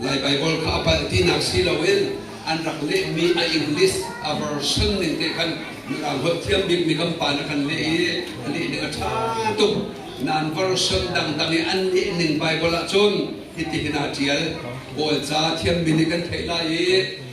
Lai Baibal kha a palh tinak si loin an rak lehmi a English a version ning te khan hngalh thiam bikmi kan pa nih kan leh i a leh ning a ṭha tuk. Nain version dangdang i an leh ning Baibal ahcun hitihin aa ṭial. Kawlca thiammi nih kan theih lai i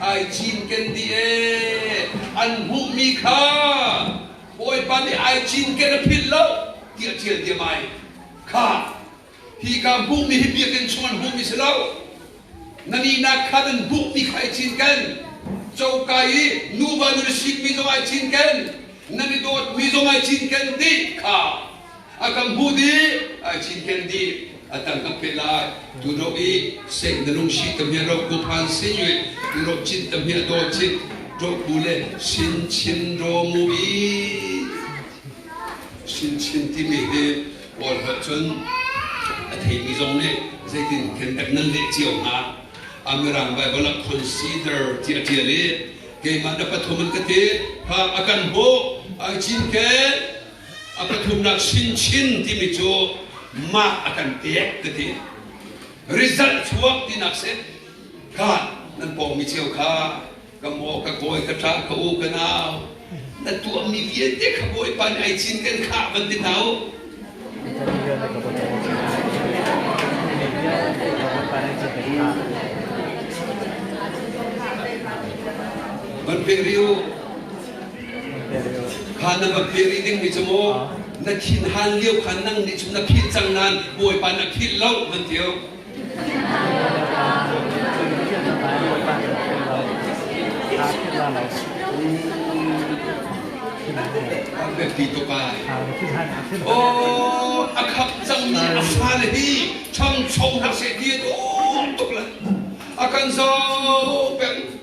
Ai cinken dih ee! An hmuhmi kha Bawipa nih ai cinken a philh lo tiah ṭial diam ai. Kha hi ka hmuhmi hi biakinn chung an hmuhmi si lo. Na nihnak kha nan hmuhmi kha ai cinken. Coka i nuva nu le sikmi zong ai cinken. Nan i dawtmi zong ai cinken ti kha A kan hmuh dih, ai cinken dih, a tang kan phet lai. Tu ro i seng na lung si tamhia ro ku phan sin yue, tu ro cin tamhia do cin, ro bu le sin chin ro mu i sin chin timi hi Paul hngalh cun a theimi zong nih zeitin khen kan nan leh cio hnga. Amirang Bible ah consider ti a tial i keimah na pathum an ka ti, ha a kan hmuh, ai cinken, A pathumnak chinchin timi cu mah a kan pek ka ti. Result chuak tinak si. Kan nan pawngmi ceu kha ka maw ka kawi ka ṭa ka u ka nau na tuahmi vialte ka bawipa nih ai cin kan khah van ti hna u. Van pek rih u. Kha na va philh rih dingmi cu mu na thin hal lio khan nang nih cun na philh cang nain Bawipa na philh lo van tio. A biak ti tuk ai. Oh, a khap cangmi a fale hi ṭhangchom hna seh ti a duh tuk lai. A kan zo peng.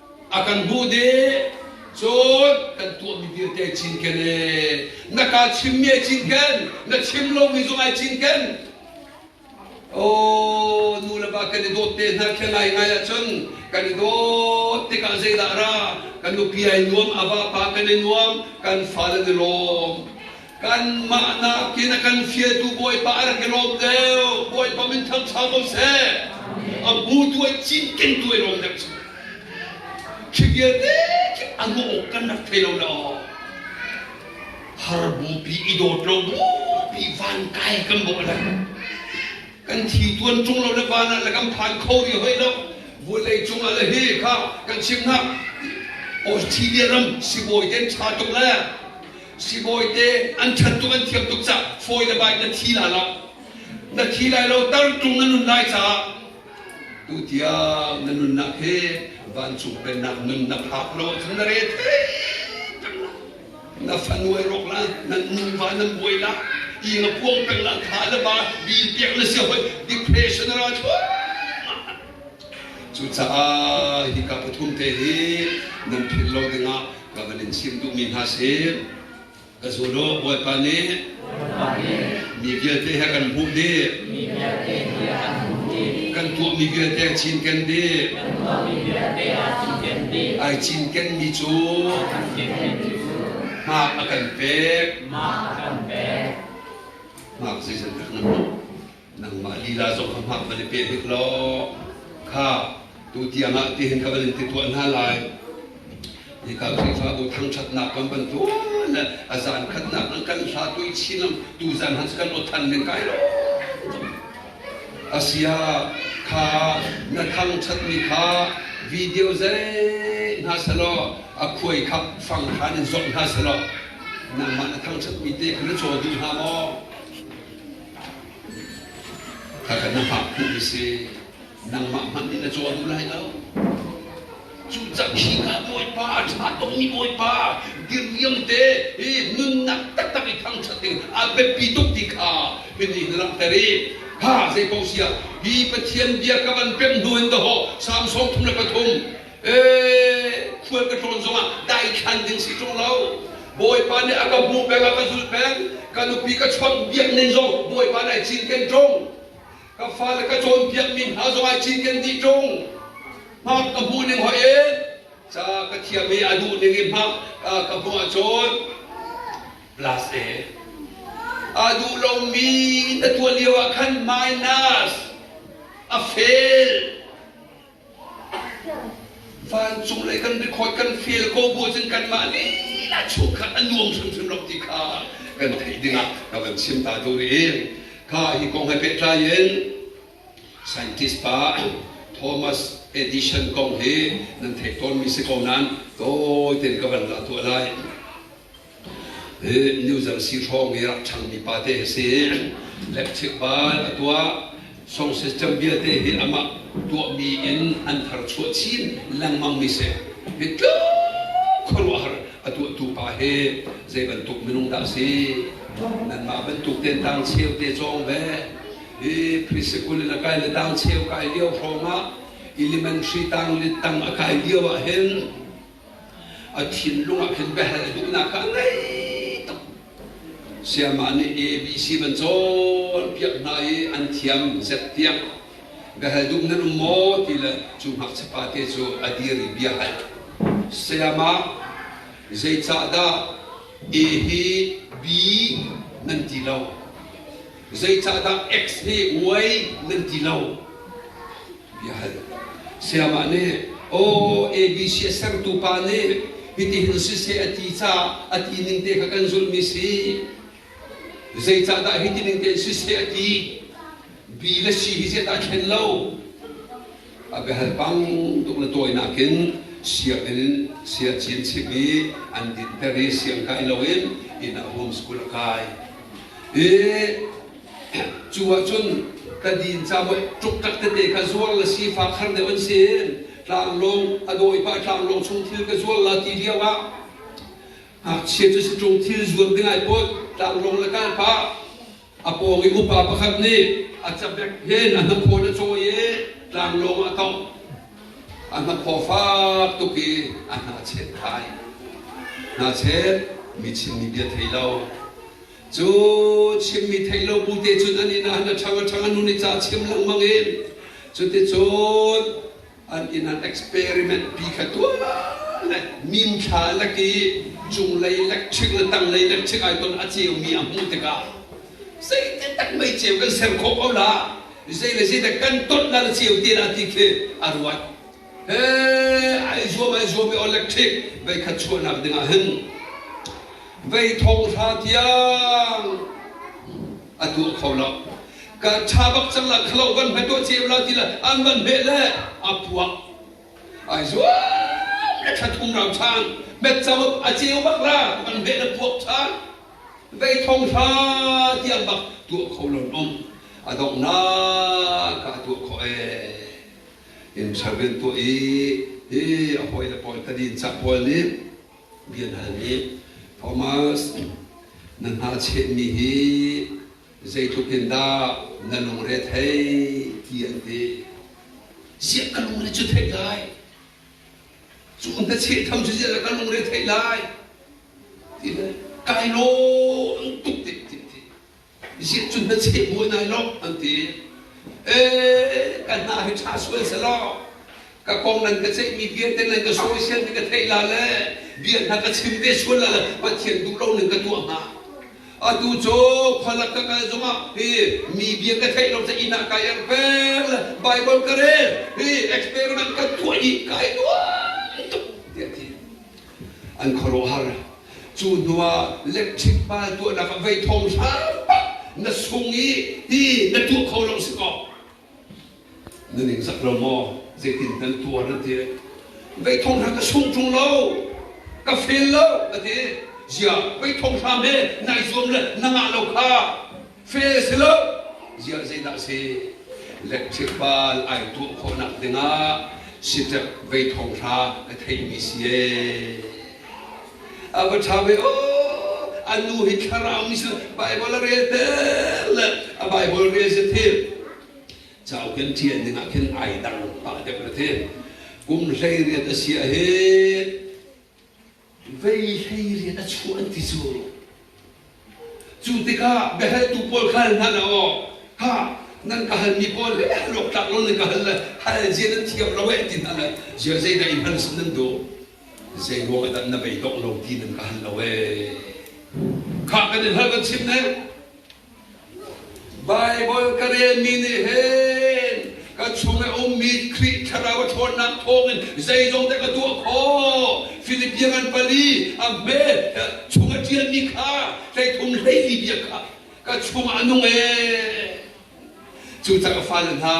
a kan hmuh dih cun kan tuahmi vialte cinken e na kaa chimmi ai cinken na chim lomi zong ai cinken aw nu le pa kan i dawt te hna khi ngai ngai ahcun kan i dawt tikah zeidah ra kan nupi ai nuam a vapa kan i nuam kan fale ni lawm Kanmah nakin a kan fialtu Bawipa a rak i lawm deuh. Bawipa min thangṭha ko seh. A bu tuai cinkeng tuai lawm deuh cu. Ṭhigial dek a hmuh awk kan rak thei lo lo. Har bupi i dawt lo bupi van kai kan bawh le. Kan thi tuan ṭung lo le van ah le kan phan kho rih hoi lo. Vawlei cung ah le hi kha kan chim hna. Australia ram sibawi ten ṭha tuk le Sibawite an ṭhat tuk an thiam tuk cah fawi le bai na thi lai lo. Na thi lai lo tartung na nun lai caah tu tiang na nunnak hi vancung pennak nun na phak lo ahcun na re thei na fanu ei rawk la nan nuva nan buai la ing a puang peng la tha le ba din piak na si hoi depression a ra thua Cucaah hika pathum te hi nan philh lo dingah ka van in chim duhmi hna si. Ka zul u, Bawipa nih mi vialte he kan hmuh dih. Kan tuahmi vialte a cinken dih. Ai cinkenmi cu hmak a kan pek. Hmak zeizat dah nan hmuh? nangmah lila zong ka hngak van i pe hnik law kha tutiang ah tihin ka van in ti tuah hna lai hika khrihfabu thangṭhatnak kan bantuan a zan khatnak an kan hla tui chin lam tu zan han kan lo than men kai lo asia kha na thangṭhatmi kha video zei hna selaw a khuai kha fang khan in zomh hna selaw nangmah na thangṭhatmi te kha na caw duh hna maw Ka kan na fak phu hi si nangmah hmanh nih na caw duh lai lo. Cucang hika Bawipa a ṭha tongmi Bawipa diriam te i nunnak taktak i thangṭhat ding a biapi tuk ti kha hiti na langhter i ha zei paoh si ah hi Pathian bia ka van pem hnu in dawh Samson thum le pathum khual ka tlawn zongah daithlan ding si ṭung lo bawipa nih a ka hmuh peng a ka zulh peng ka nupi ka chuak biak ning zong bawipa nih a cinken ṭung ka fale ka cawnpiak mi hna zong a cinken dih ṭung hmak ka hmuh ning hoi e ca ka thiam i a duh ning i hmak ka hmuh ahcun plus e a duh lomi na tuah lio ah khan minus a fail Vancung lei kan record kan fial ko bu cun kanmah lila chung khan a nuam hrimhrim lo ti kha kan theih dingah rak kan chim ta deuh rih kha hi kong he pehtlai in scientist pa Thomas Edison kong hi nan theih tawnmi si ko nain tawi tein ka van lah tuah lai hi nuzang si hrawng i rak changmi pate a si i electric bulb a tuah song system vialte hi amah tuahmi in an thar chuah chin lengmangmi si hi tluk khuaruahhar a tuahtu pa hi zei bantuk minung dah si nanmah bantuk ten tang cheu te cawng ve hi preschool in a kai le tang cheu kai lio hrawng ah elementary tang le tang a kai lio ah hin a thinlung ah khin biahal duhnak kha a ngei tuk siamah nih ABC ban cawnpiak hna i an thiam zet tiang biahal dum nan um maw ti le cu ngakchapa te cu a dir i bia hal sayama zeicahdah e hi b nan ti lo Zeicahdah X hi uai nan ti lo? Bia hal. Sayamah nih, aw ABC a sertu pa nih hitihin si se a ti caah a ti ning te kha kan zulhmi si. Zeicahdah hiti ning tein si se a ti? Bi le si hi zedah a thlen lo? a ka hal pang tuk le tawi nakin sianginn siachin chim i an dinter i siang kai loin inn ah homeschool a kai i cu ahcun ka din camuai tluktak tete ka zuar le si fa khar deuh an si tlanglawng a dawi pah tlanglawng chung thil ka zuar la ti lio ah ngakchia cu si tlung thil zuam ding ai pawt tlanglawng le kal pah A pawng i upa pakhat nih a cabek hin a hnakhawn a cawi i tlanglawng ah a tongh. A hnakhaw fak tuk i a hnachet thai. Hnachet mi chimmi bia thei lo. Cu chimmi thei lo bu te cun an inn ah an a ṭhang a ṭhang an hun i ca chim lengmang i cuticun an in an experiment pi kha tuan le minthla lak i cunglei electric le tanglei electric ai ton a ceu mi a hmuh tikah zeite tak mei ceu kan ser khawh ko la zei le zei kan ton la ceu ti la ti khi a ruat he ai zuam ai zuam i electric vei khat chuahnak dingah hin vei thong hra tiang a tuah kho lo kan tha bak cang la khalo van hme tuah ce la ti la an van hme le a puak ai zuam le khat um ram chang met chau a ceu bak la man hme le puak chan vei thong hra tiang bak tuah kho lon om adong na ka tuah kho e in service tuah i i a hoi le paul tadin cha paul nih bia hna nih Thomas na hnahchehmi hi zeitluk in dah na lungre thei ti an ti siah ka lungre cu theih lai cu hnacheh tham cu ziah ka lungre theih lai ti le kai lawm tuk ti ti Isih cun na cheh buai nai lo an ti. Eh, ka hna hi ṭha sual selaw, ka kong nan ka ceihmi vialte nan ka suaisial mi ka theih la le bia hna ka chim ve sual la le Pathian duh lo nan ka tuah hnga. Atu cu khualak ka kal zongah hi mi bia ka theih lo ca inn ah ka erh fel Bible ka rel hi experiment ka tuah i kai nuai tuk tiah a ti. an khuaruahhar. Cu hnuah lecchik hmai tuahnak ah vei thawng hram na sung i ti na tuah kho lo si kaw na ningzak lo maw zeitin nan tuar an ti vei thawng hram ka sung ṭung lo ka fail lo ka ti zia vei thawng hram he nai zuam le na ngah lo kha fe si lo ziah zeidah a si electric bal ai tuah khawhnak dingah sitep vei thong hra ka theimi si e a va ṭha ve o a nu hi thlarau mi si bible a rel te le a bible rel si thil cao kan ṭian dingah khin ai dang pa dep ra thin kum hlei riat a sia hi vei hlei rian a chuah an ti cu. Cu tikah biahaltu pawl kha hal hna la aw, ha, nan ka halmi pawl he luaktlak lo nan ka hal le hal zia nan thiam lo e ti hna le zia zeidah i hmalsam nan duh? Zei ruang dah na bei dawh lo ti nan ka hal lo e? Kha kan in hal kan chim ne. Baibal ka relmi nih hin ka chung i ummi Khrih thlarau a ṭhawnnak thawngin zeizong te ka tuah khawh. Philippians an pali a hme chung a ṭialmi kha hleithum hleili bia kha ka chungah a nung ee. Cu cang a fale hna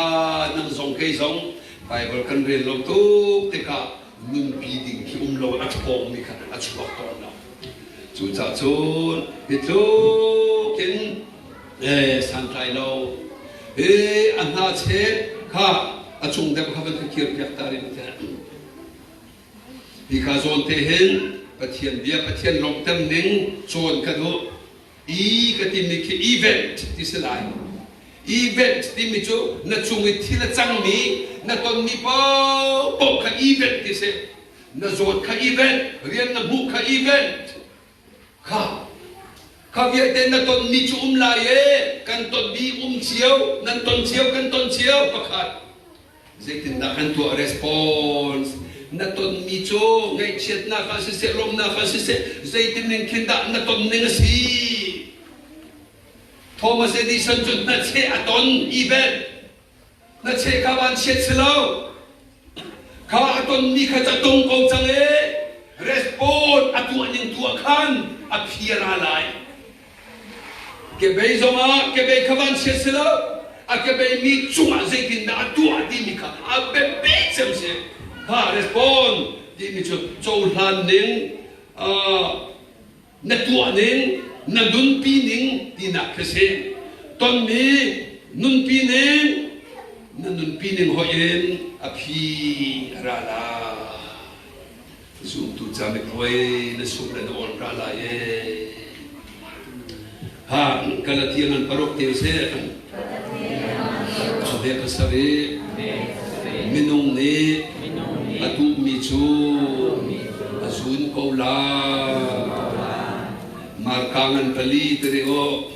nan zong kei zong Baibal kan rel lo tuk tikah nunpi ding hi um lo a ṭhawngmi kha a chuak tawn lo. Cucacun hi tluk in eh, santlai lo e a hna che kha a cung deuh kha van ka kir piak ta rin te hi kha zawn te hin Pathian bia Pathian lawmhter ning cawn ka duh i ka timi khi event ti si lai event timi cu na cung i thil a cangmi na tonmi popo kha event ti si na zawt kha event rian na hmuh kha event kha kha vialte na tonmi cu um lai e kan tonmi um cio nan ton cio kan ton cio pakhat Zeitindah kan tuah response? Na tonmi cu ngaihchiatnak ah siseh, lawmnak ah siseh, zeitin ning khin dah na ton ning a si? Thomas Edison cu na che a ton even na che kha vanchiat si lo kha a tonmi kha ca tung ko cang e respond a tuah ning tuah khan a phiara lai Kebei zongah kebei kha van chiat si lo, a kebei mi cungah zeitindah a tuah timi kha a biapi cem si. Kha respond timi cu cohlan ning, na tuah ning, na nunpi ning tinak khi si. Tonmi nunpi ning, na nunpi ning hoih in a phi a ra lai. Zumtu ca mit hoi na suk le na ol ta lai e. Ha, Galatia nan paruk te seh. Khuate pasar i minung nih a duhmi cu a zun ko la. Markaang an pali tiri awh.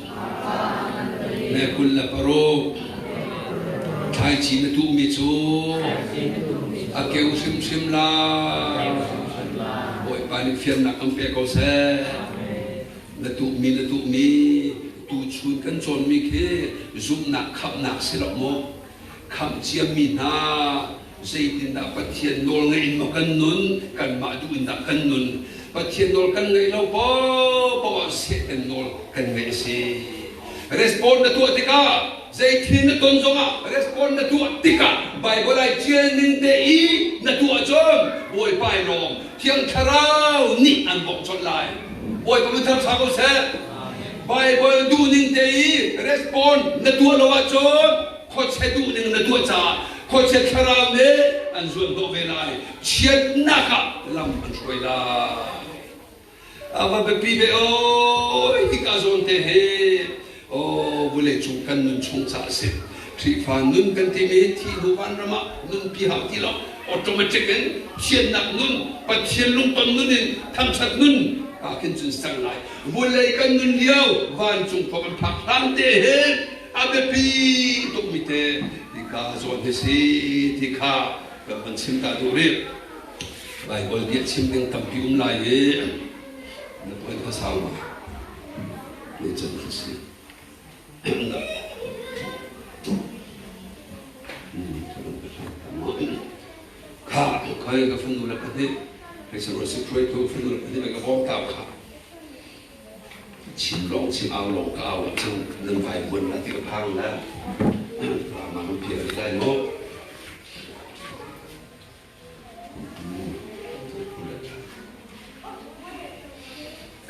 Ne kul le paruk. Thlaici na tuhmi cu a keu hrimhrim la. Bawipa nih fiannak kan pe ko seh. Na tuhmi na tuhmi tuchun kan cawnmi khi zumhnak khamhnak si lo maw? Khamh ciammi hna, zeitindah Pathian nawl ngaih in maw kan nun, kanmah duh in dah kan nun, Pathian nawl kan ngaih lo paohpaoh ah Satan nawl kan ngaih a si. Respond na tuah tikah, zeithil na ton zongah respond na tuah tikah Baibal ai ṭial ning te i na tuah cun Bawipa i lawm Thiang Thlarau nih an bawmh colh lai. Bawipa min thang sa ko seh. Baibal duhning te i respond na tuah lo ahcun khuachia duhning na tuah caah khuachia thlarau nih an zuan dawh ve lai. Chiatnak ah lam an hruai lai. A va biapi ve o hika zawn te hi o vulei cung kan nun chung ca a si. Khrihfa nun kan timi thihnu vanram ah nunpi hau ti lo. Automatic in thiannak nun, Pathian lungton nun in thangṭhat nun aa khin cun ser lai. vunlei kan nun lio vancung khua kan phak hram te he a biapi tukmi te ti kha zawn hi si ti kha kan van chim ta duh rih Baibal bia chim ding tampi um lai i na puan kha sau ngai ni can kha si Hmm, kha kai ka fanu le pahnih hei sarual si hruai tu fanu le pahnih na ka bawm ta kha chin lawng chin au lawng ka au cun nan vai buan la ti ka phang le rama nan pia ri lai lo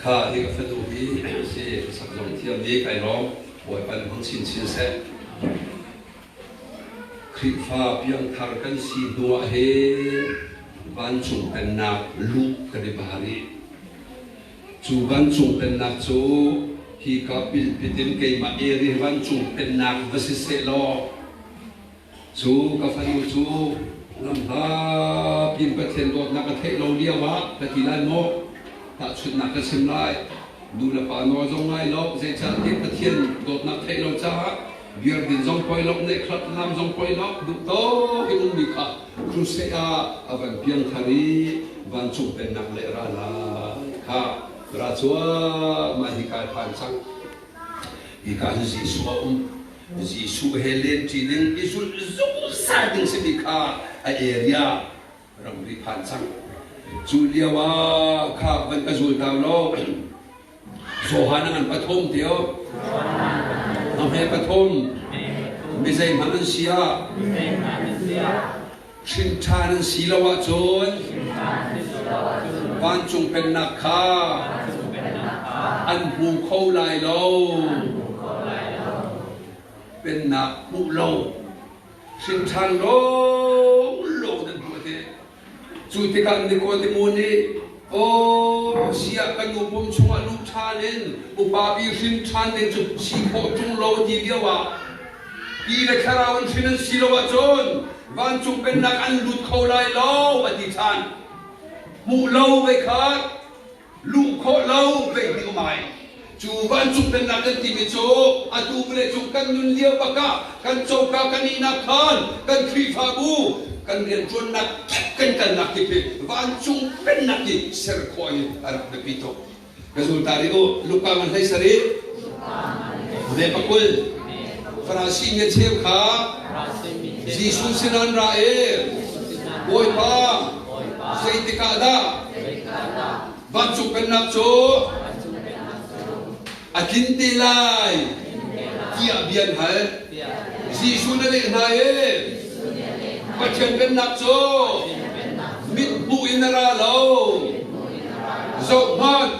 kha hi ka fanu hi si sak zong thiam ni kai lawng bawi pan hong chin chin se Khrihfa piangthar kan si hnuah he vancung pennak luh kan i bar i cu vancung pennak cu hi ka pilpitin keimah eri vancung pennak va si seh law cu ka fanu cu lam hla pin Pathian dawtnak ka theih lo lio ah ka ti lai maw tahchunhnak ka chim lai nu le pa nawl zong lai lo zeicahtiah Pathian dawtnak theih lo caah Biakinn zong poi loh, neihkhat lam zong poi loh, duhtawk in ummi kha crusade ah a van piangthar i vancung pennak le ra lai kha ra cuah mah hika phan cang. Hika hi Jesuh a um. Jesuh he lenṭi ning i zulh zungzal ding simi kha a area ramri phan cang. Cu lio ah kha van ka zul ta law Johan an pathum tio. Amhe pathum mizei hmang an si ah hrinṭhan an si lo ahcun vancung pennak kha an hmu kho lai lo. Pennak hmuh lo Hrinṭhan lawlaw nan hmuh te. Cu tikah Nikodemo nih, Aw, siah ka nu pum chungah lu ṭhan in upapi hrinṭhan ding cu si khawh ṭung lo a ti lio ah, Ti le thlarau in hrin an si lo ahcun vancung pennak an lut kho lai lo, a ti ṭhan. Hmuh lo vei khat! luh khawh lo zeihmanh um ai. Cu vancung pennak kan timi cu atu vale cu kan nun lio bak ah kan coka kan ihnak khan kan khrihfabu kan rianṭuannak kan kalnak tipil vancung pennak hi ser khawh in a rak biapi tuk. Ka zul ta rih u, Luka ngan hlei sarih. Ve pakul. Farasi nih cheu kha Jesuh sinah an ra i, Bawipa, Zeitikah dah? Vancung pennak cu a tlin te lai tiah bia an hal. Jesuh na leh hna e, Pathian pennak cu mithmuh in a ra lo. Zohhmanh,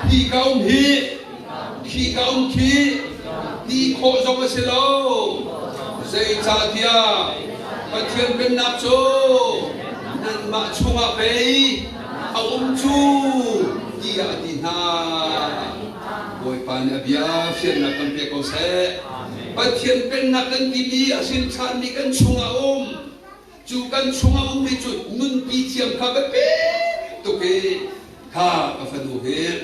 hi ka um hi Thli ka um khi ti khawh zong a si lo. Zeicahtiah Pathian Pennak cu nanmah chungah pei a um cu tiah a ti hna. Bawipa nih a bia fiannak kan pek ko seh. Pathian Pennak kan timi a sin chanmi kan chungah um. Cu kan chungah um mi cu nunpi thiam kha biapek tuk i kha ka fanu hi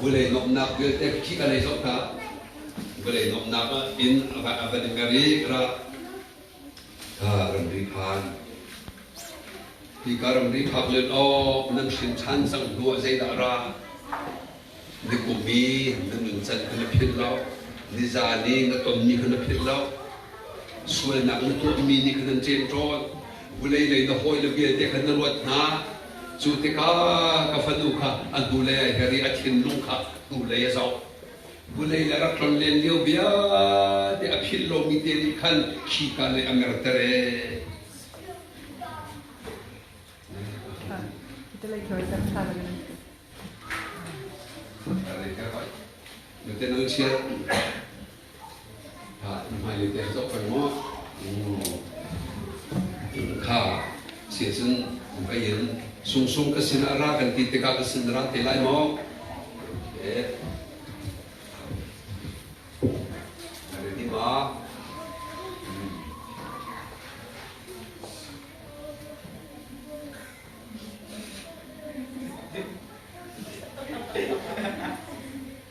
Vulei nuamhnak vialte kik a lei zong kha vawlei nuamhnak in a van i mer i ra ramri phan. Hika ramri phak lun awk nan hrin than cang hnu ah zeidah ra? Ni kum i na nuncan kha na philh lo, ni zan i na tonmi kha na philh lo, sualnak na tuahmi nih kha nan ṭem tawn, vulei lei na hawi le vialte kha na luat hna. Cu tikah ka fanu kha a hnulei ai her i a thinlung kha hnulei a zoh. Hnulei le rak tlon len lio vialte a philh lomi te nih khan khika lei a merter ee. Are ke hoi. Meten au chia. hmailei te zoh kan mu kha si cun ka yin sungsung ka sin ah ra kan ti tikah ka sin ra te lai maw ready ba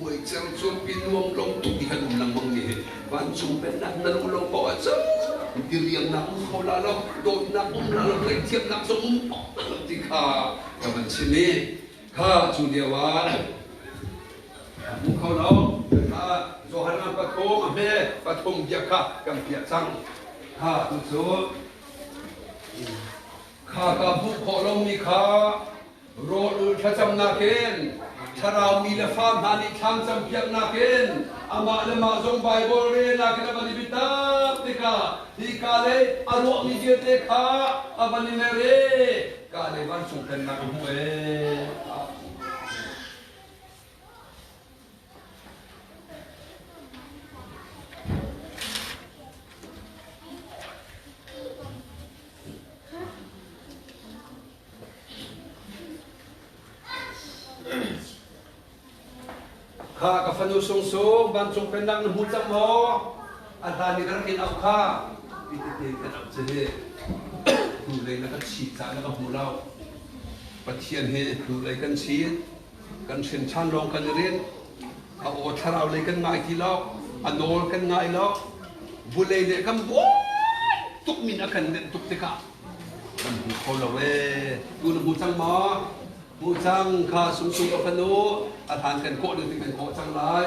Buai cang chuanpi nuam lo tuk i han um lengmang mi hi vancung pennak na luh lo poah cang diriamnak um kho la lo dawtnak um la lo tleithiamnak zong um ti kha ka van chim i kha cu lio ah um kho lo Johanan pathum a hme pathum bia kha kan piah cang kha tu cu kha ka hmuh khawh lomi kha Rawl ul thlacamnak in thlaraumi le fa hna nih thlam campiaknak in amah le mah zong Baibal relnak in a van i biatak tikah hi ka lei a ruahmi vialte kha a van i mer e ka lei vancung pennak a hmuh e. Kha ka fanu sungsung vancung pennak na hmu cang maw? A hlan i ka rak in auh kha pititein kan auh ci hi hnulei na kan chit cah na ka hmu lo Pathian hi hnulei kan chit kan hrinṭhan lawng kan i rinh a aw thlarau lei kan ngai ti lo a nawl kan ngai lo vulei nih kan buai tuk min a kan nenh tuk tikah kan hmu kho lo e tu na hmu cang maw hmu cang kha sumsum a fanu a hlan kan kawh ding kan kawh cang lai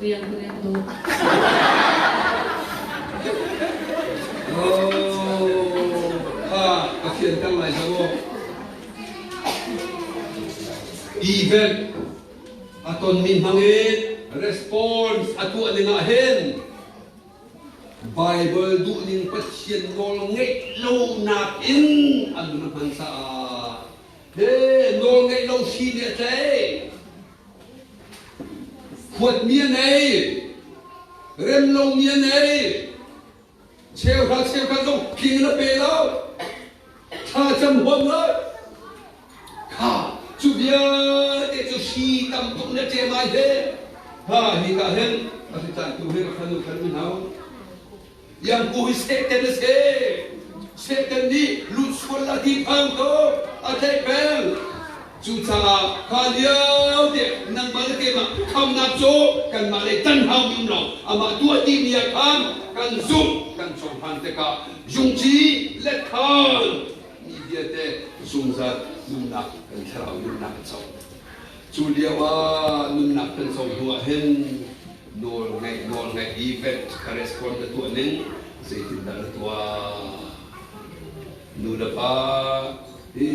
Liang Kung Liang Dawh. Oh, ha, ka fianter lai lo. Event aton min hmangin response atuah ning ah hin Bible duh ning Pathian nawl ngeih lo nak in an hman sa ah he nawl ngeih lo si ne tlei Huatmi a nei, remlomi a nei, cheuhra cheuhra zong king na pe lo, thlacam huam lo. Kha cu vialte cu si tamtuk na ṭem ai he, ha hi ka hin, a si caan tu he ka fanu khan mi hau. Yang ku hi Satan a si. Satan nih luhsual a tihphang ko, a tleihpeng. Cucaah kha lio tiang nangmah le keimah khamnak cu kanmah lei tanhaumi um lo, amah tuah dihmi ah khan kan zumh, kan cohlan tikah jungci letthan mi vialte zungzal nunnak kan thlarau nunnak kan co. Cu lio ah nunnak kan co hnu ah hin nawlngaih event correspond na tuah ning zeitindah na tuah nu le pa i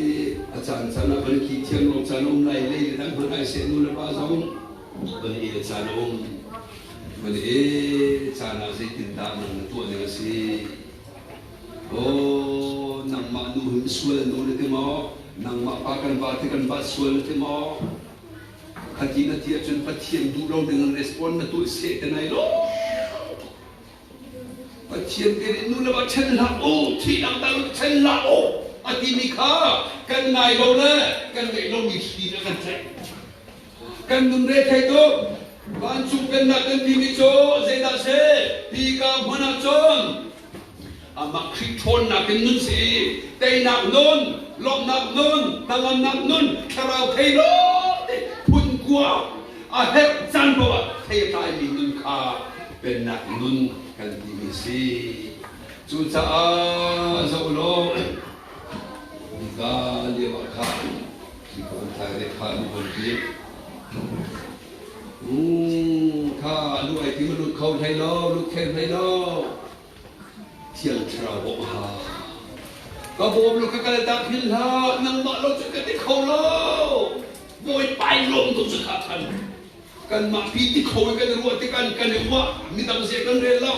a caan caan ah van khi thiam lo caan a um lai lei le dang hmanh ai se nu le pa zong van i caan a um van i caan ah zeitindah nang na tuah ning a si aw nangmah nu hin sual nu na ti maw nangmah pa kan va ti kan va sual na ti maw Khati na ti ahcun Pathian duh lo dingin respond na tuah seh te nai lo. Pathian kan in nu le va ṭhen hlah u, thi dangdang ṭhen hlah u, a timi kha kan ngai lo le kan ngeih lomi thli le kan tlaih. Kan nun re thei tuk. Vancung pennak kan timi cu zeidah a si? Hi ka hmanah cun Amah Khrih ṭhawnnak in nun si, teinak nun, lawmhnak nun, hnangamnak nun, thlarau thei law ti phun kua a herh caan paoh ah thei a tlaimi nun kha Pennak nun kan timi si. Cucaah zoh law nika lio ah khan mi kong thai le kha an von ti. Uu kha lu ei ti mu lut kho hlei lo, lu khel hlei lo. Thiang thlarau bawm ha. Ka bawm lu ka kal tak hin hlah, nangmah lo cu ka ti kho lo. Voi pai lawm tu cu kha khan. Kanmah pi ti kho i kan i ruah tikhan kan i ruah. Midang zie kan rel lo.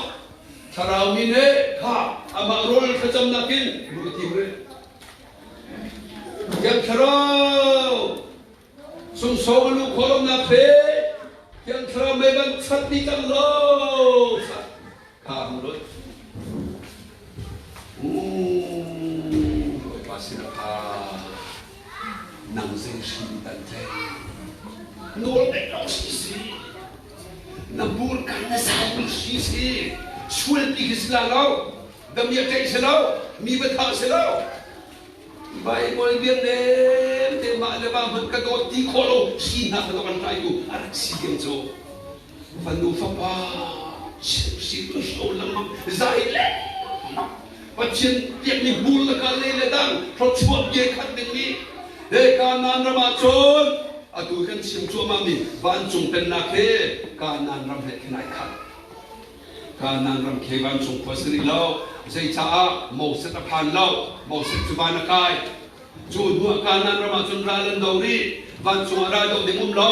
Thlarau mi nih kha amah rawl thlacam nakin lu i tim rih. Thiang thlarau Sungsawm a lu khuaruahnak he Thiang Thlarau mei ban chat ni cang lo kha hmu lo. U pa sina kha nang zei hrim tan thei nuol dek lo si si na bur kan na sai bu si si sual pi hi si la lo damiak kai se lo mi batha se lo Baibal vialte te mah le mah hmanh ka dawt ti khawh lo sinak ka kan hraitu a rak si ding cu fanu fapa sirtu so lengmang zai le Pathian tiakmi bul le ka le le dang throchuah bia khat dingmi he kanan ram ah cun atu kan chim cuahmah mi vancung pennak he kanan ram he khin ai khat Kanan ramkhel vancung khua san i lo, zeicaah Moses a phan lo, Moses cu van a kai. Cu hnuah Kanan ram ah cun ral an do rih, vancung ah ral doh ding um lo.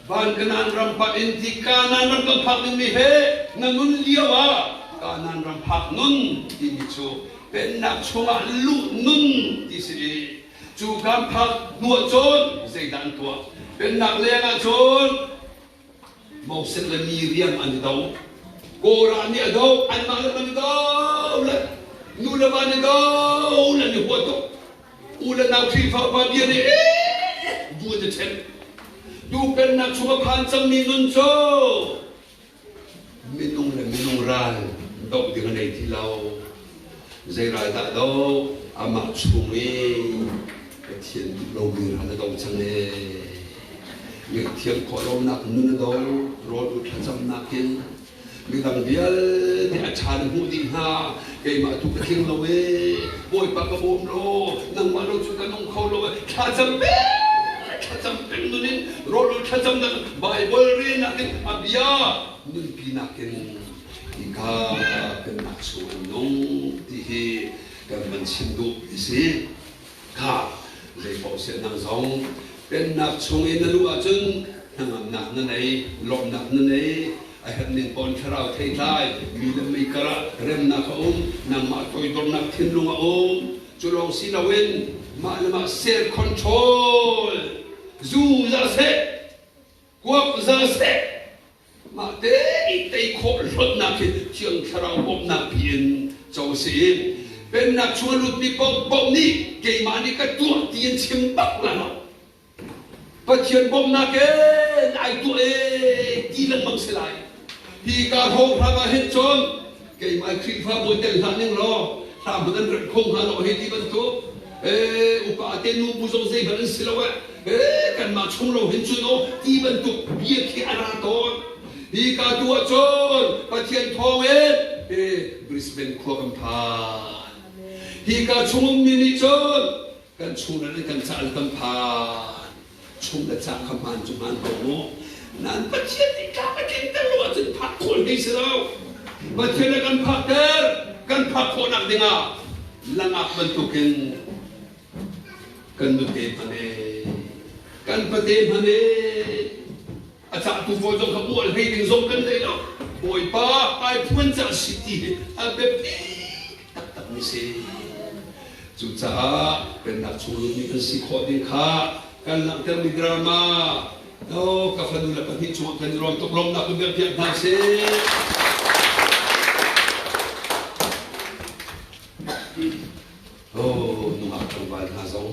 Van Kanaan ram phak in ti Kanan ram kan phak dingmi he na nun lio ah Kanan ram phak nun timi cu pennak chungah luh nun ti si i cu kan phak hnuah cun zeidah an tuah? Pennak lengah cun Moses le mi riang an i do. Korah nih a do, anmah le an i do le nu le va nih do le an i huat tuk. U le nau Khrihfa pa bia nih eh vun a ṭhen. Tu pennak chung a phan cangmi nun cu Minung le minung ral doh ding a nei ti lo. Zei ral dah doh? Amah chung i Pathian duh lomi ral a dong cang ee. Ngaihthiam khawh lonak nun a do, rawl u thlacamnak in midang vialte a ṭhan hmuh ding hna keimah tu ka tling lo e bawipa ka bawm law nangmah ro cu ka nung kho lo e thlacam pe thlacam peng nun in rawlul thlacam nan baibal re nak in abia nunpi nak in nika kan nak su in nung ti hi kan van chim duh ti si Kha zeipaoh sian dang zong Pennak chung i na luh ahcun hnangamnak na ngei, lawmhnak na ngei, a herh ning paoh in thlarau theitlai, mi le mei karah remnak a um, nangmah toidornak thinlung a um. Cu lawng si loin mah le mah self control, zu za seh, kuak za seh, Mah tein tei khawh hlonnak hi thiang thlarau bawmhnak pin co a si. Pennak chung a lutmi paohpaoh nih keimah nih ka tuah ti in chim bak lang. Pathian bawmhnak in ai tuah ee ti lengmang si lai. Hi ka hrawng hram ah hin cun keimah Khrihfabu tel hlah ning law hlaput an remh kho hnga lo hi ti bantuk eh upa te nu bu zong zei hmanh an si lo eh eh kanmah chung lo hin cun o ti bantuk bia khi a ra tawn hi ka tu ahcun pathian thawng in eh Brisbane khua kam phan hi ka chung ummi nih cun kan chung le kan ca kan phan chung le ca kha hmaan cu hmaan ko mu nan pathian nih ka ka tlinter lo ahcun phak khawh hei si lo pathian le kan phakter kan phak khawhnak dingah langak bantukin kan nute hmane kan pate hmane a tlangtu pawl zong kha ual hlei ding zong kan thei lo bawipa ai phuan cang si ti hi a biapi taktakmi si cucaah pennak chung lumi kan si khawh ding kha kan langhtermi drama no ka fanu le pahnih cungah kan i ruam tuk lawmnak va biak piak hna sih oh nungak tlangval hna zong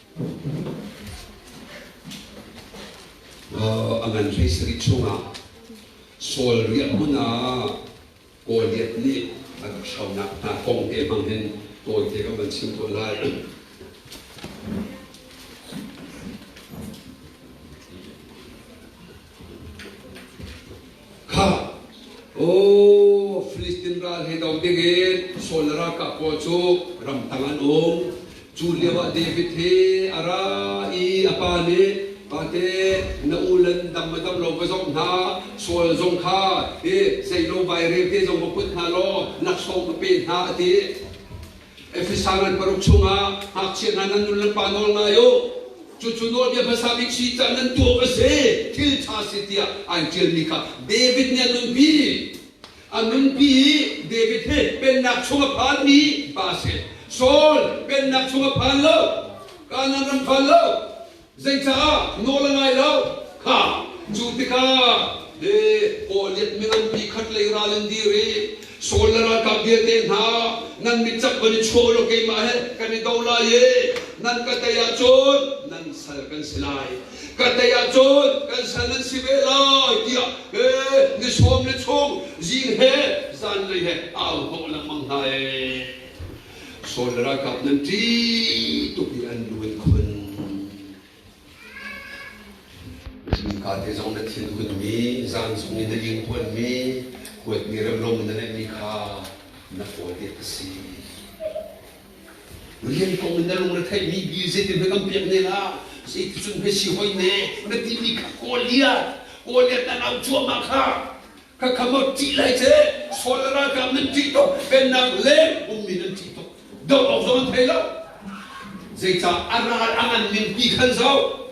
a ngan hlei sarih chungah sual riah hmun ah Goliath nih an hronak hna kong te hmang hin kawl te kan van chim tawn lai Kha aw Filistin ral he dong dingin Saul le ralkap pawl cu ramtang an um. Cu lio ah David he a ra i a pa nih Pate na ulan dang le dang lo va zong hna sual zong kha hi zei lo vairel te zong va put hna law laksawng ka pe hna a ti. Efesan an paruk chungah ngakchia hna nan nu le pa nawl ngai u. Cucu nawlbia hmasa bik si cah nan tuak a si, thil ṭha si tiah an ṭialmi kha David nih a nunpi. A nunpi i David he pennak chung a phanmi pa a si. Saul pennak chung a phan lo, Kanaan ram phan lo, Zeicaah nawl a ngai lo kha cu tikah le kawhliat mi nganpi khatlei ral in dir i Saul le ralkap vialte hna nan mitcak van i chuah u law keimah he kan i do lai i nan ka tei ahcun nan sal kan si lai ka tei ahcun kan sal nan si ve lai tiah eh, ni sawm le chung zing he zanlei he au hnawh lengmang hna e Saul le ralkap nan ṭih tuk i an lu an khun. Zingkate zong na thin hunmi, zan zong i na linghuanmi, kuatmi remlom na neihmi kha na kawlte ka si. Rian kong in na lungretheihmi bil zeitin hme kan pek ne la, zeiticun hme si hoi ne, na timi kha Goliath, Goliath nan au cuahmah kha, Khakhamot ṭih lai seh, Saul le ralkap nan ṭih tuk, Pennak leng ummi nan ṭih tuk, doh awk zong an thei lo. Zeicah a ral a nganning ti khan zoh,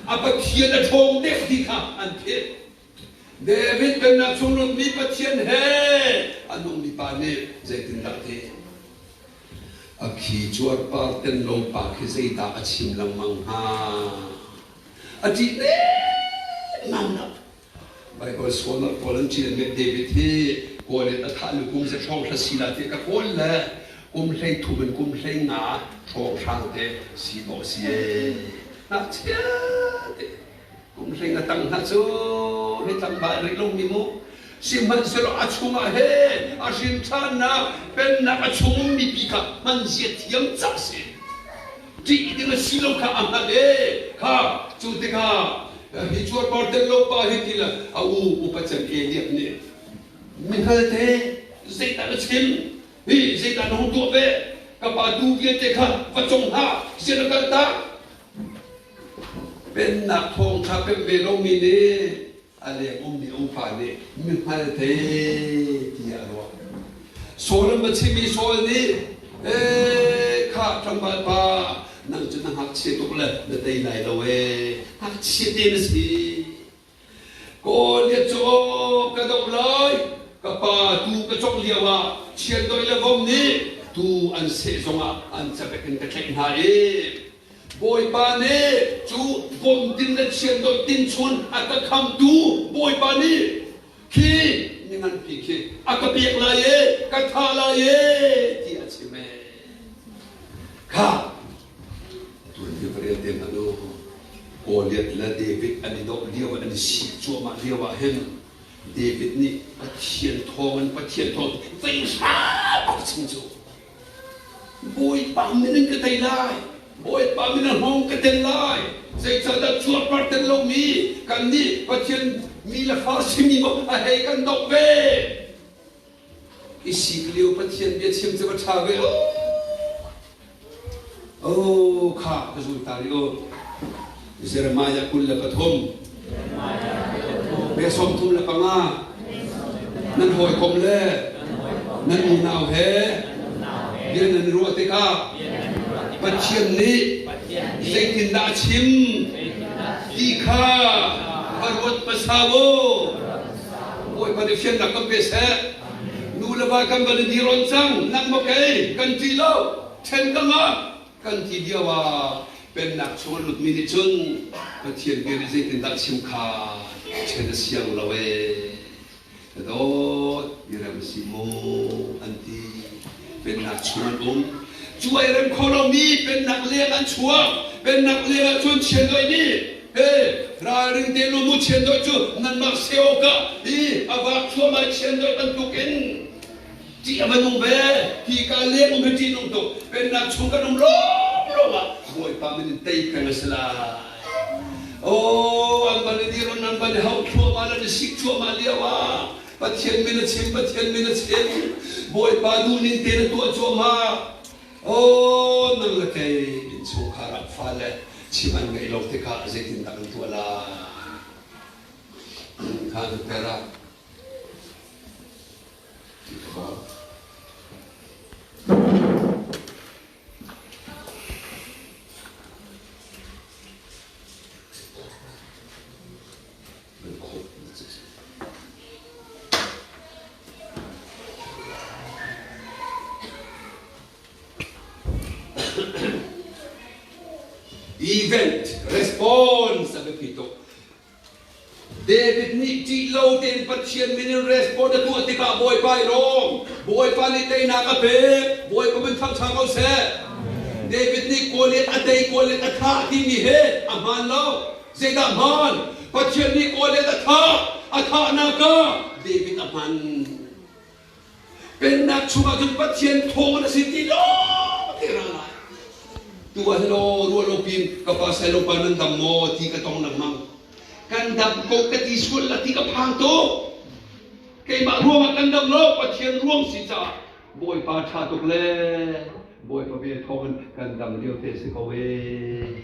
A Pathian a ṭhawng dek ti kha an theih. David pennak chung rummi Pathian he a nungmi pa nih zeitindah a ti? A khi cuarpar tenlo pa khi zeidah a chim lengmang hnga? A ṭih dengmang lo. Baibal sualnak pawl an cilhmi David hi kawl in a thah hnu kum za hrawng hra sinak te ka kawl le kum hlei thum in kum hlei nga hrawng hrang te si maw si ngakchia te kum hlei nga tang hna cu mi tlangval rih lomi mu sihmanhsehlaw a chungah he a hrinṭhannak pennak a chung ummi pi kha hman zia thiam cak si ṭih ding a si lo kha a hngalh i kha cu tikah hi cuarpar tel lo pa hi til a u upa can e tiah nih mi hngalte zeitan a chim hi zeitan hong tuah ve ka pa tu vialte kha va cung hna sian a kal ta pennak thawng ṭha pem ve lomi nih a leng ummi umfa nih mihmal thei tiah a ruah. Saul an va chimmi Saul nih ee kha tlangval pa nang cu na ngakchia tuk le na tei lai lo ee ngakchia te na si Goliath cu aw ka doh lai ka pa tu ka cawk lio ah chiandoih le vom nih tu an seh zong ah an cabek in ka tlaih hna i Bawipa nih cu kumtin le chiandawi tinchun a ka khamtu Bawipa nih khi mi nganpi khi a ka pek lai e ka thah lai e ti a chim e kha tun hi va rel te hmanh u Goliath le David an i doh lio an i sik cuahmah lio ah hin David nih Pathian thawng in Pathian thawng zei hram a chim cu Bawipa min in ka tei lai. Bawipa min a hngawng ka tel lai. Zeicahdah cuarpar tel lomi kannih Pathian mi le Farasimi maw a hei kan doh ve? Isi lio Pathian bia chim cu va ṭha ve. Oh, kha ka zul ta rih u. Jeremiah kul le pathum. Ve sawm thum le panga. Nan hawikom le nan unau he bia nan ruah tikah Pathian nih zeitindah a chim ti kha va ruat hmasa u. Bawipa nih fiannak kan pe seh. Nu le va kan van i dir on cang. Nang maw kei kan ti lo. Ṭhen ka ngah. Kan ti lio ah Pennak chung a lutmi nih cun Pathian bia nih zeitindah chim kha ṭhen a siang lo ee. Ka dawt, mirem si mu an ti. Pennak chung an um. Cu ai rem kho lomi Pennak leng an chuak. Pennak leng ah cun chiandoih nih he ralring te lu mu chiandoih cu nanmah se awkah i a vak thluamah chiandoih bantuk in Cih a va nung ve. Hi ka leng um hi ṭihnung tuk. Pennak chung kan um lawng lawng ah Bawipa min in tei peng a si lai. Oh, an ban i dirun an ban i hauh thluahmah le misik cuahmah lio ah Pathian min a chim, Pathian min a chim. Bawipa nu ning tein a tuah cuahmah. Oh, nang le kei innchungkhar ah fale chim an ngeih lo tikah zeitindah kan tuah lai? Khan Perak Event response a biapi tuk. David nih ṭih lo tein Pathian min in respond a tuah tikah Bawipa i rawm. Bawipa nih teinak a pek. Bawipa min thangṭha ko seh. David nih Goliath a tei, Goliath a thah timi he a hmaan lo. Zeidah hmaan? Pathian nih Goliath a thah. A thahnak ah David a hman. Pennak chungah cun Pathian thawn a si ti law ka ra lai. Tu ah hin aw ruah lo piin ka pa sai lo pa nan dam maw ti ka tong lengmang. Kan dam ko ka ti sual la ti ka phang tuk. Keimah ruangah kan dam lo Pathian ruang si caah Bawipa tha tuk le Bawipa ve thawng in kan dam lio te si ko ee.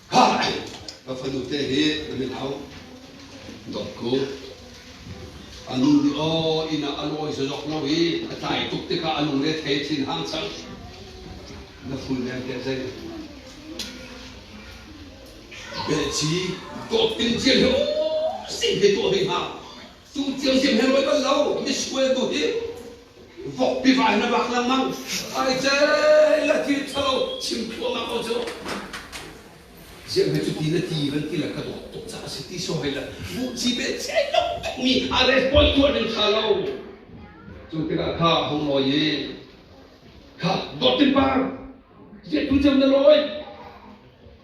Ka fanu te hi na min hau dok ku a nu nih aw inn ah a lawi zazok lo i a tlai tuk tikah a lung le thei thin hang sang na fun nem te zei beh ci ko pin cian he o sing he tuah hei hang Cu thil hi hme bal lo misual tu hi vok piva in a bak lengmang ai cel a ti thalo chim thluahmah ko cu ziah hme cu ti na ti van ti la ka dawt tuk ca si ti so hai la bu chi be che lo mi a respond tuah ding tha lo cu tikah kha hung loi i kha dot in par ye tu cem na loi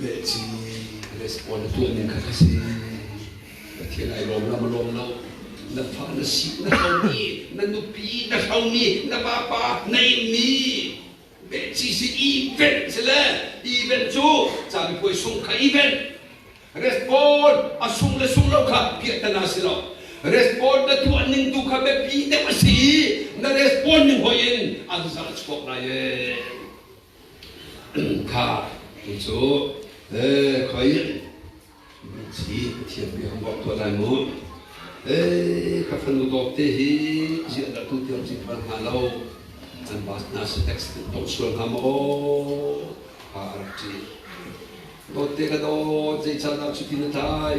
Beijing respond tuahning kha ka si. Pathian ai lawm lam lawm lo. Na fa na si na hlomi na nupi na hlomi na papa na inmi Beijing sin event si le event cu cami puai sung kha event respond a sung le sung lo kha piahtana si lo respond na tuah ning tu kha biapi deuh a si i na respond ning hoi in an zal chhuak lai ee Kha tu cu khoi si a thiam mi hong bawk tuan lai mu. Ka fanu dawp te hi ziahdahtu tiang si phan hna lo. An bas hna si tax in tawh sual hna maw ka a rak ti. Dawt te ka dawt zei caan ah cuti na tlai.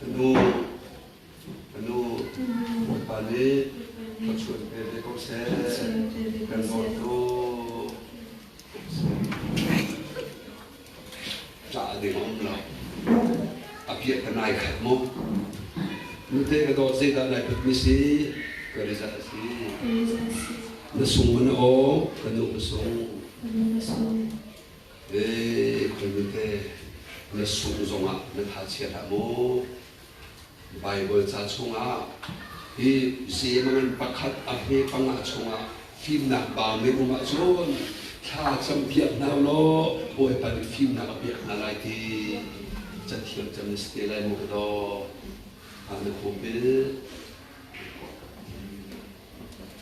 Ka nu, Bawipa nih ka chuan pe ve ko seh, kan dawtu. Tla a ding um lo. A piah ka nai khat mu. Nute ka dawt zeidah lai put mi si, ka rizal a si. Na sung na o, ka nu ka sung. Khuanute na sungh zongah na thachiat ah maw? Baibal ca chungah hi zeimangin pakhat a hme panga chungah fimnak bau na um ahcun thla cam piak hna law Bawipa nih fimnak a pek hna lai ti cathiam cam na si te lai maw ka daw. Amen. Amen.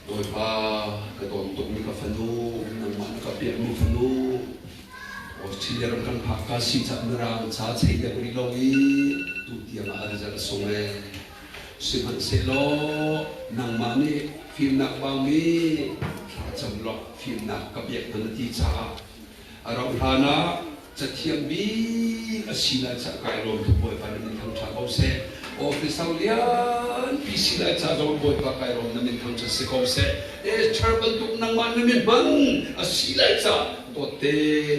Bawipa ka dawm tukmi ka fanu, nangmah na ka piakmi fanu, Australia ram kan phak ka si caah mirang ca chei dek rih lo i tu tiang ah result a sung e. Sihmanhsehlaw nangmah nih fimnak vangmi thlacam lawk fimnak ka biak hman a ti caah A rauh hlan ah cathiam bik a si lai caah kai lawm tuk Bawipa na min thangṭha ko seh. Officer lianpi si lai caah zong Bawipa kai lawm na min thangṭhat si ko seh. Esther bantuk nangmah na min hmang a si lai caah dawtte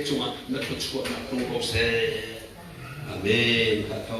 cungah na thluachuahnak tong ko seh. Amen. Tha tho.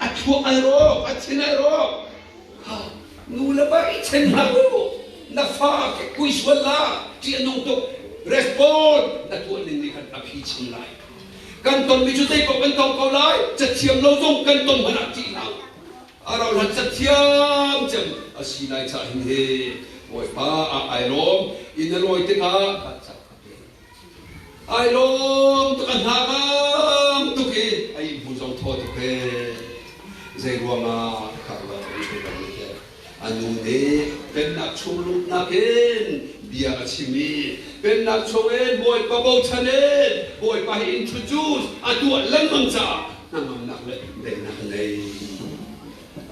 a chuak ai rawk a chin ai rawk nu le va i chen hna u na fa ke kui sual la ti a nung tuk respond na tuah ning nih khan a phi chung lai kan tonmi cu zei paoh kan tong ko lai cathiam lo zong kan ton hmanh ah tih lo a rauhlan cathiam cem a si lai cah hin he bawipa ah ai lawm in a lawi tikah ka cak Ai lawm tuk a hlang tuk i a ihmu zong thaw tuk he zei ruangah ka ruah ka ti lo tiah a nu nih pennak chung lumnak in bia a chim i pennak chungin bawipa bochan in bawipa he introduce a tuah lengmang caah hnangamnak le daihnak a ngei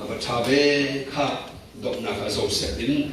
a va ṭha ve kha donghnak ah zosek in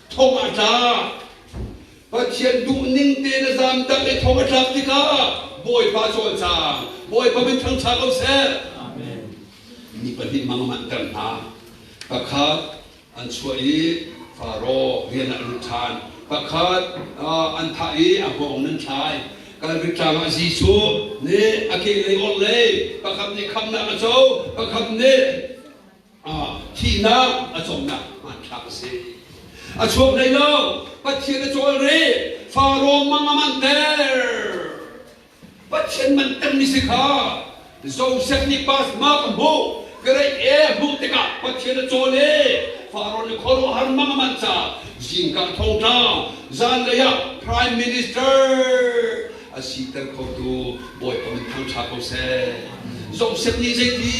thong a tla pathian duhning te na zamtak i thong a tlak tikah bawipa cawlcang bawipa min thangtha ko seh mi pahnih mang manter hna pakhat an chuah i faro rian ah lut ṭhan pakhat an thah i a hngawng nan thlai kalvik tlangah jesuh nih a kehlei orhlei pakhat nih khamnak a co pakhat nih thihnak a cawmnak hmanthlak a si a chuak hlei lo pathian a cawlre faro mang a man ter pathian man ter ni si kha joseph nih pas ma ka hmuh great e hmuh tikah pathian a cawl e faron le khuaruahhar mang a man ca zingka thongtla zan lei ah prime minister a si ter khotu bawipa min thangtha ko seh joseph nih zeiti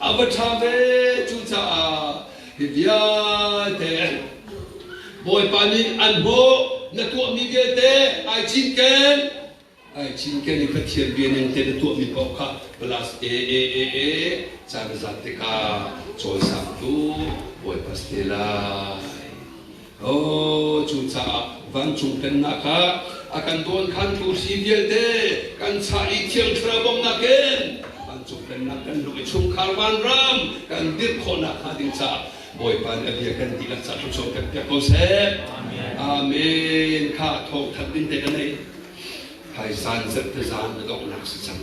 A va ṭha ve cucaah hi vialte Bawipa nih an hmuh na tuahmi vialte ai cinken ai cinken i Pathian bianing te na tuahmi paoh kha plus e e e e caan zat tikah cawisang tu Bawipa si te lai Aw, cucaah vancung pennak kha a kan dawnkhantu si vialte kan chah i thiang thlarau bawmhnak in vancung pennak kan luh i chungkhar vanram kan dirh khawhnak hnga ding caah Bawipa nih a bia kan dihlak caah thluachuah kan pek ko seh. Amen. Kha thawngthanh ding te ka nei. Kai zan zet te zan ka donghnak si cang.